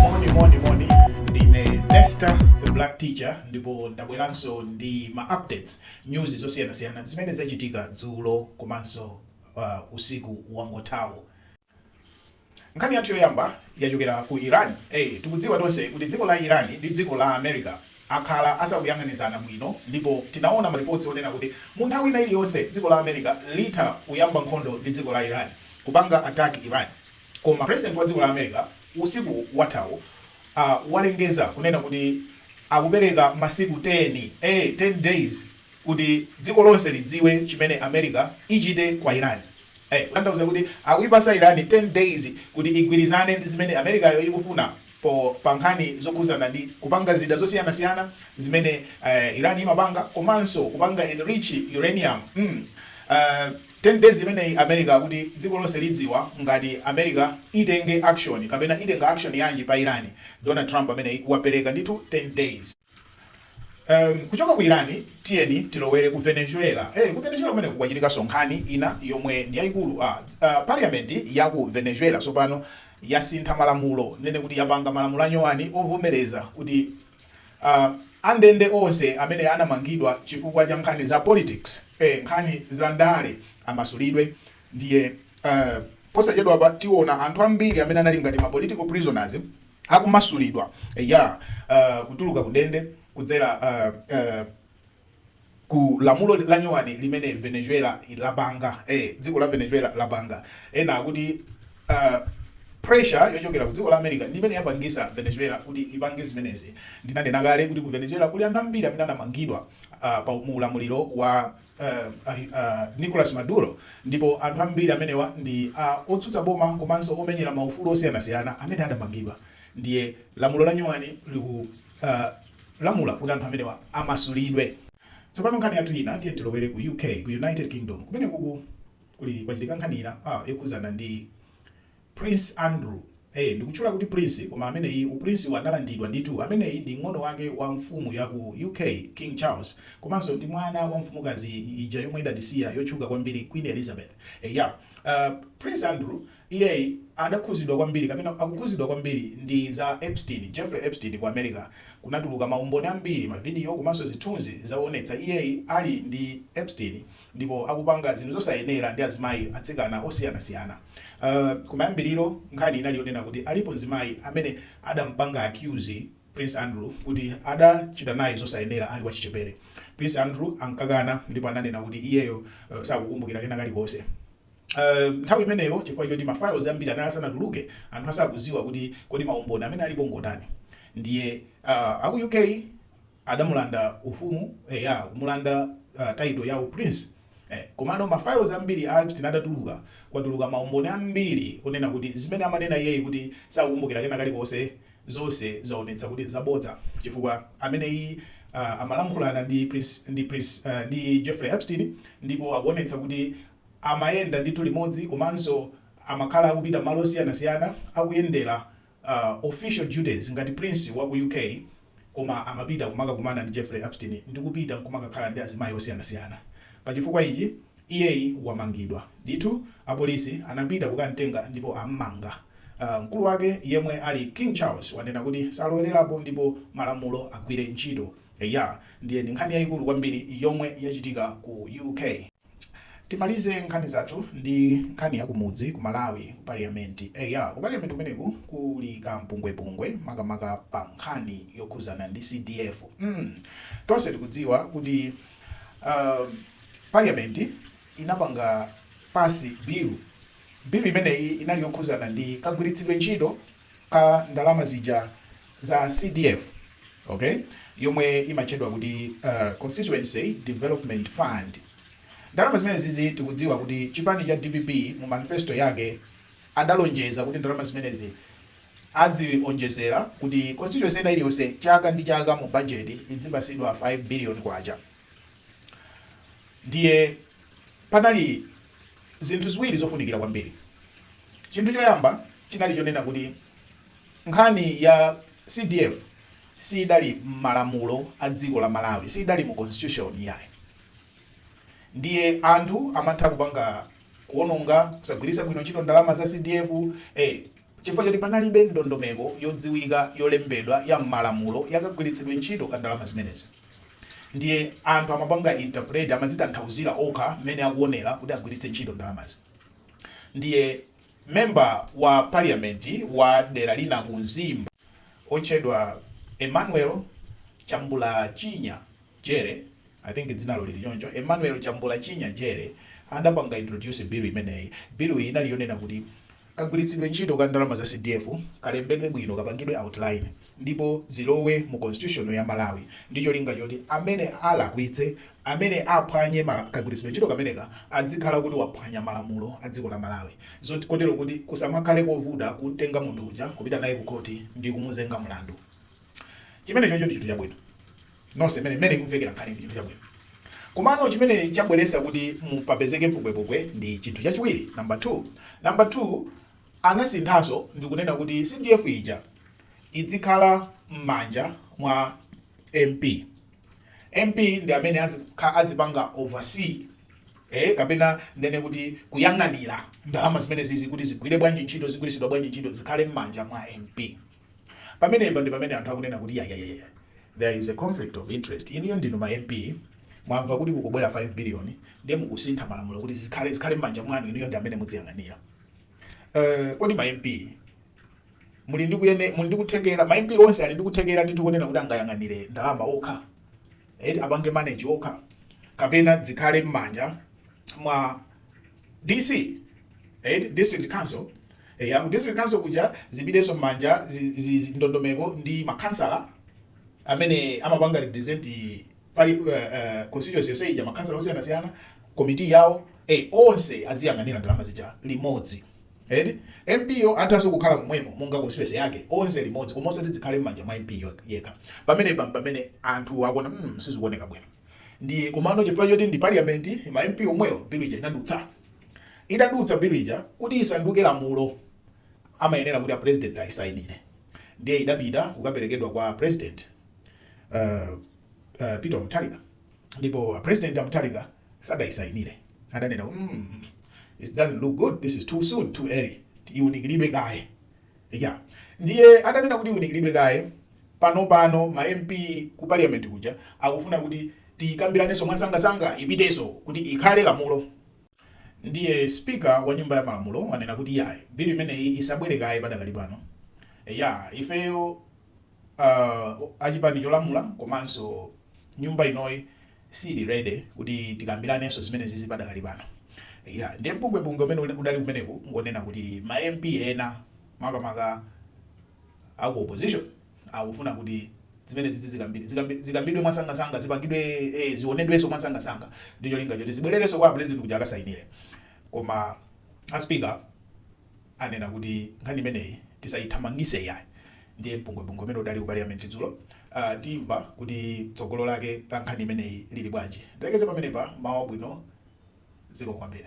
moni moni moni ndine nesta the black teacher ndipo ndabweranso ndi ma updates news zosiyanasiyana zimene zachitika dzulo komanso uh, usiku wangothawu Nkhani yathu yoyamba yachokera ku Iran a tikudziwa tonse kuti dziko la Iran ndi dziko la America akhala asakuyang'anizana bwino ndipo tinaona maripotsi onena kuti munthawi ina iliyonse dziko la America litha kuyamba nkhondo ndi dziko la Iran kupanga attack Iran koma president wa dziko la America usiku wathawu a walengeza kunena kuti akupereka masiku 10 a 10 days kuti dziko lonse lidziwe chimene America ichite kwa Iran eh kutanthauza kuti akuipatsa Iran 10 days kuti igwirizane ndi zimene America yo ikufuna po pa nkhani zokhuzana ndi kupanga zida zosiyanasiyana zimene eh Iran imapanga komanso kupanga enrich uranium mm ah 10 days imeneyi America kuti dziko lonse lidziwa ngati America itenge action kapena itenga action yanji pa Iran Donald Trump ameneyi wapeleka ndithu 10 days. Um, kuchoka ku Iran tiyeni tilowere ku Venezuela. Eh, ku Venezuela kumeneku kwachitikaso nkhani ina yomwe ndi yayikulu ah, uh, parliament ya ku Venezuela sopano yasintha malamulo nene kuti yapanga malamulo anyowani ovomereza kuti uh, andende onse amene anamangidwa chifukwa cha nkhani za politics eh, nkhani za ndale amasulidwe ndiye uh, posachedwapa tiona anthu ambiri amene anali ngati ma political prisoners akumasulidwa eya uh, kutuluka kundende kudzera uh, uh, ku lamulo la nyowani limene venezuela lapanga eh, dziko la venezuela lapanga ena akuti uh, pressure yochokera ku dziko la america ndi imene yapangisa venezuela kuti ipange zimenezi ndinanena kale kuti ku venezuela kuli anthu ambiri amene anamangidwa uh, pa mu ulamuliro wa a Nicolas Maduro ndipo anthu ambiri amenewa ndi a otsutsa boma komanso omenyera ma ufulu osiyanasiyana amene adamangidwa ndiye lamulo la nyuwani likulamula kuti anthu amenewa amasulidwe. Tsopano nkhani yathu ina tiyeni tilowere ku UK ku United Kingdom kumeneku kuli kwachitika nkhani ina a yokhudzana ndi. Prince Andrew, Ee, ndikutchula kuti Prince koma ameneyi uPrince-wu analandidwa ndithu. Ameneyi ndi mng'ono wake wa mfumu ya ku UK, King Charles, komanso ndi mwana wa mfumukazi ija yomwe idatisiya yotchuka kwambiri Queen Elizabeth. Eya, uh, Prince Andrew, iyeyi adakhuzidwa kwambiri kapena akukhuzidwa kwambiri ndi za Epstein, Jeffrey Epstein ku America. Kunatuluka maumboni ambiri, mavidiyo komanso zithunzi zoonetsa iyeyi ali ndi Epstein. ndipo akupanga zinthu zosayenera ndi azimayi, atsikana osiyanasiyana. Umm kumayambiriro nkhani inali yonena kuti alipo mzimayi amene adampanga accuse Prince Andrew kuti adachita naye zosayenera ali wachichepere. Prince Andrew ankakana ndipo ananena kuti iyeyo sakukumbukira kena kalikonse. Umm nthawi imeneyo chifukwa choti ma files ambiri anali asanatuluke anthu asakudziwa kuti kodi maumboni amene alipo ngotani. Ndiye umm aku UK. adamulanda ufumu eya kumulanda title ya u prince eh komano ma files ambiri a Epstein atatuluka kwatuluka ma umboni ambiri onena kuti zimene amanena iyeyi kuti sakukumbukira kena kalikonse zonse zaonetsa kuti nzabodza chifukwa ameneyi uh, amalankhulana ndi prince, ndi, prince, uh, ndi Jeffrey Epstein ndipo akuonetsa kuti amayenda ndithu limodzi komanso amakhala akupita malo osiyanasiyana akuyendera Official duties ngati Prince waku UK koma amapita kumakakumana ndi Jeffrey Epstein ndi kupita kumakakhala ndi azimayi osiyanasiyana. Pa chifukwa ichi iyeyi wamangidwa. Ndithu apolisi anapita kukamtenga ndipo ammanga. Mkulu wake yemwe ali King Charles wanena kuti salowelerapo ndipo malamulo agwire ntchito. Eya, ndiye ndi nkhani yayikulu kwambiri yomwe yachitika ku UK. Timalize nkhani zathu ndi nkhani ya kumudzi ku Malawi ku parliament. Eya ku parliament kumeneku kuli ka mpungwepungwe makamaka pa nkhani yokhuzana ndi CDF. Hmm tonse tikudziwa kuti parliament inapanga pass bill. Bill imeneyi inali yokhuzana ndi kagwiritsidwe ntchito ka ndalama zija za CDF ok yomwe imatchedwa kuti uh, Constituency Development Fund. Ndalama zimenezizi tikudziwa kuti chipani cha DPP mu manifesto yake adalonjeza kuti ndalama zimenezi adzionjezera kuti constituency ina iliyonse chaka ndi chaka mu budget idzipasidwa 5 billion kwacha. Ndiye panali zinthu ziwiri zofunikira kwambiri. Chinthu choyamba chinali chonena kuti nkhani ya CDF siidali m'malamulo a dziko la Malawi, siidali mu constitution yayi. Ndiye anthu amatha kupanga kuononga, kusagwiritsa bwino ntchito ndalama za CDF eh, chifukwa choti panalibe ndondomeko yodziwika yolembedwa ya m'malamulo yakagwiritsidwe ntchito ka ndalama zimenezi. ndiye anthu amapanga interpret amadzitanthauzira okha mmene akuonera kuti agwiritse ntchito ndalamazi ndiye member wa parliament wa dera lina ku mzimba otchedwa emmanuel chambulanyina jere i think dzinalo lili choncho emmanuel chambulanyina jere adapanga introduce bill imeneyi bill iyi inali yonena kuti kagwiritsidwe ntchito ka ndalama za cdf kalembedwe bwino kapangidwe outline ndipo zilowe mu constitution ya Malawi ndi cholinga choti amene alakwitse, amene aphwanye kagwiritsidwe ntchito kameneka adzikhala kuti waphwanya malamulo a dziko la Malawi zoti kotero kuti kusamakhale kovuta kumtenga munthu uja kupita naye ku khoti ndi kumuzenga mlandu. Chimenechocho ndi chinthu chabwino. Nonse mmene mmene ikumvekera nkhani ndi chinthu chabwino. Komano chimene chabweretsa kuti mpaka papezeke mpungwepungwe ndi chinthu chachiwiri, number two. Number two, Anasinthanso ndikunena kuti CDF ija idzikhala mmanja mwa MP. MP ndi amene adzikhala adzipanga oversee ee kapena ndene kuti kuyang'anira ndalama zimenezizi kuti zigwire bwanji ntchito zigwiritsidwa bwanji ntchito zikhale mmanja mwa MP. Pamenepa ndi pamene anthu akunena kuti yayayaya there is a conflict of interest inuyo ndinu ma MP mwamva kuti kukubwera 5 billion ndiye mukusintha malamulo kuti zikhale zikhale mmanja mwanu inuyo ndi amene mudziyang'anira. Eh, kodi ma MP muli ndi kuyene muli ndi kuthekera ma MP onse ali ndi kuthekera ndithu konena kuti angayang'anire ndalama okha eti apange manage okha kapena zikhale m'manja mwa DC eti district council eh, ya ku district council kuja zipitenso m'manja zi- zi- zi- ndondomeko ndi makhansala amene amapanga represent ali uh, uh, constituency yonse ija makhansala osiyanasiyana komiti yawo eh, onse aziyang'anira ndalama zija limodzi edi mpyo athanso kukhala momwemo monga constituency yake onse limodzi koma osati zikhale m'manja mwa mp yekha pamenepa mpamene anthu akuona mm, sizikuoneka bwino ndiye komano chifukwa choti ndi parliament ma mp omwewo bilu ija inadutsa idadutsa bilu ija kuti isanduke lamulo amayenera kuti a president ayisainire ndiye idapita kukaperekedwa kwa a president uh, uh, Peter Mutharika ndipo a president Mutharika sadaisayinire adanena mm, it doesn't look good this is too soon too early iunikiridwe kaye yeah. ndiye adanena kuti iunikiridwe kaye pano pano ma MP ku parliament kuja akufuna kuti tikambiranenso mwasangasanga ipitenso kuti ikhale lamulo ndiye speaker wa nyumba ya malamulo wanena kuti yayi bilu imeneyi isabwere kaye padakali pano ya ifeyo uh, achipani cholamula komanso nyumba inoyi siili ready kuti tikambiranenso zimene zizi padakali pano ya ndiye mpungwepungwe umene udali kumeneku ngonena kuti ma MP ena makamaka aku opposition akufuna kuti zimene zizi zikambidwe zikambidwe mwasangasanga zipangidwe eh, zionedwenso mwasangasanga ndi cholinga choti zibwererenso kwa president kuti akasainire koma a speaker anena kuti nkhani imeneyi tisayithamangise iyayi ndiye mpungwepungwe umene udali ku paliyamenti dzulo aah timva kuti tsogolo lake la nkhani imeneyi lili bwanji ndilekeze pamenepa mmawa wabwino zikomo kwambiri.